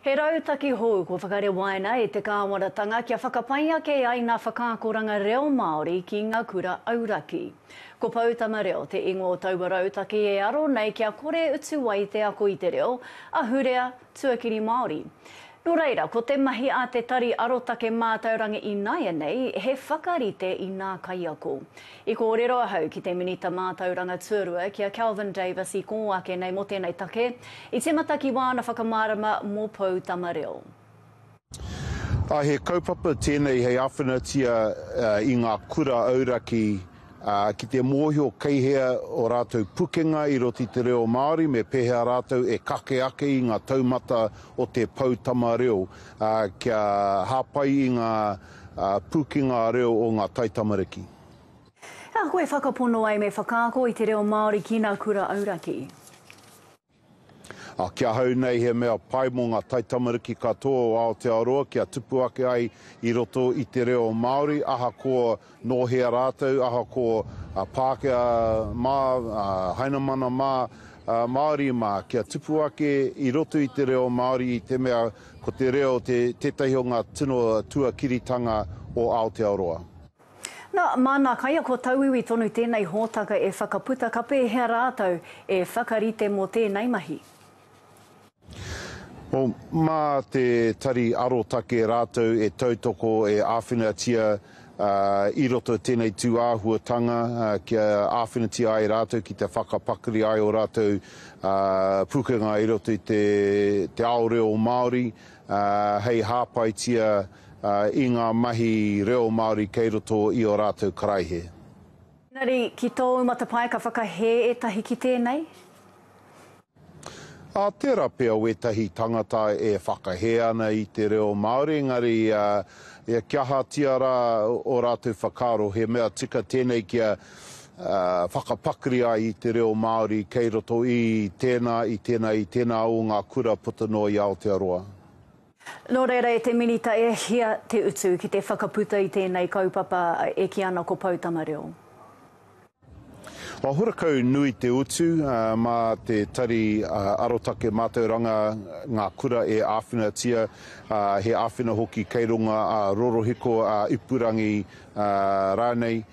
He rautaki hou kua whakarewaina e te Kāwanatanga kia whakapai ake ai ngā whakaakoranga reo Māori ki ngā kura auraki. Ko Poutama Reo te ingoa o taua rautaki e aro nei kia kore utu ai te ako i te reo, ahurea, tuakiri Māori. Nō reira, ko te mahi a Te Tari Arotake Mātauranga ināianei he whakarite i ngā kaiako. I kōrero ahau ki te Minita Mātauranga Tuarua, ki a Kelvin Davis i kō ake nei mō tēnei take, i tīmata ki wāna whakamārama mō Poutama Reo. Ā, he kaupapa tēnei hei āwhinatia i ngā kura auraki ki te mōhio kei hea o rātou pukenga i roto i te reo Māori me pēhea rātou e kake ake i ngā taumata o te Poutama Reo kia hāpai i ngā Pū ki ngā reo o ngā taitamariki. He aha koe whakapono ai me whakaako i te reo Māori ki nā kura auraki? Ki ahau nei he mea pai mō ngā taitamariki katoa o Aotearoa kia tupu ake ai i roto i te reo Māori ahakoa nō hea rātou, ahakoa Pākehā mā, Hainamana mā, Māori mā, kia tupu ake i roto i te reo Māori i te mea Ko te reo te tētahi o ngā tino tuakiritanga o Aotearoa. Nā, māna kaiako tauiwi tonu tēnei hōtaka e whakaputa ka pēhea rātou e whakarite mō tēnei mahi? O, mā te Tari Arotake rātou e tautoko, e āwhinatia i roto i tēnei tū āhuatanga kia āwhinatia ai rātou ki te whakapakari ai ō rātou pukenga i roto i te ao reo Māori hei hāpaitia i ngā mahi reo Māori kei roto i ō rātou karaihe. Engari, ki tōu matapae ka whakahē ētahi ki tēnei? Ā tērā pea wētahi tangata e whakahē ana i te reo Māori, engari kia ahatia rā ō rātou whakaaro, he mea tika tēnei kia whakapakari ai i te reo Māori kei roto i tēnā, i tēnā, i tēnā o ngā kura puta noa i Aotearoa. Nō reira e te Minita e hia te utu ki te whakaputa i tēnei kaupapa e kī ana ko Poutama Reo? Horakau nui te utu mā te Tari Arotake Mātauranga ngā kura e āwhinatia, he āwhina hoki kei runga ā rorohiko, ā ipurangi rānei,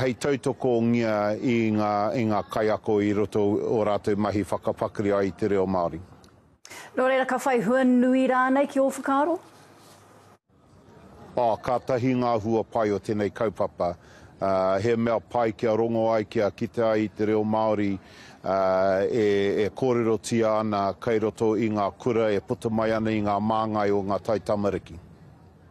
hei tautokongia i ngā kaiako i roto i ō rātou mahi whakapakari ai i te reo Māori. Nō reira, ka whai hua nui rānei ki ō whakaaro? Oh, kātahi ngā hua pai o tēnei kaupapa. He mea pai kia rongo ai, kia kite ai i te reo Māori e kōrerotia ana kei roto i ngā kura e puta mai ana i ngā māngai o ngā taitamariki.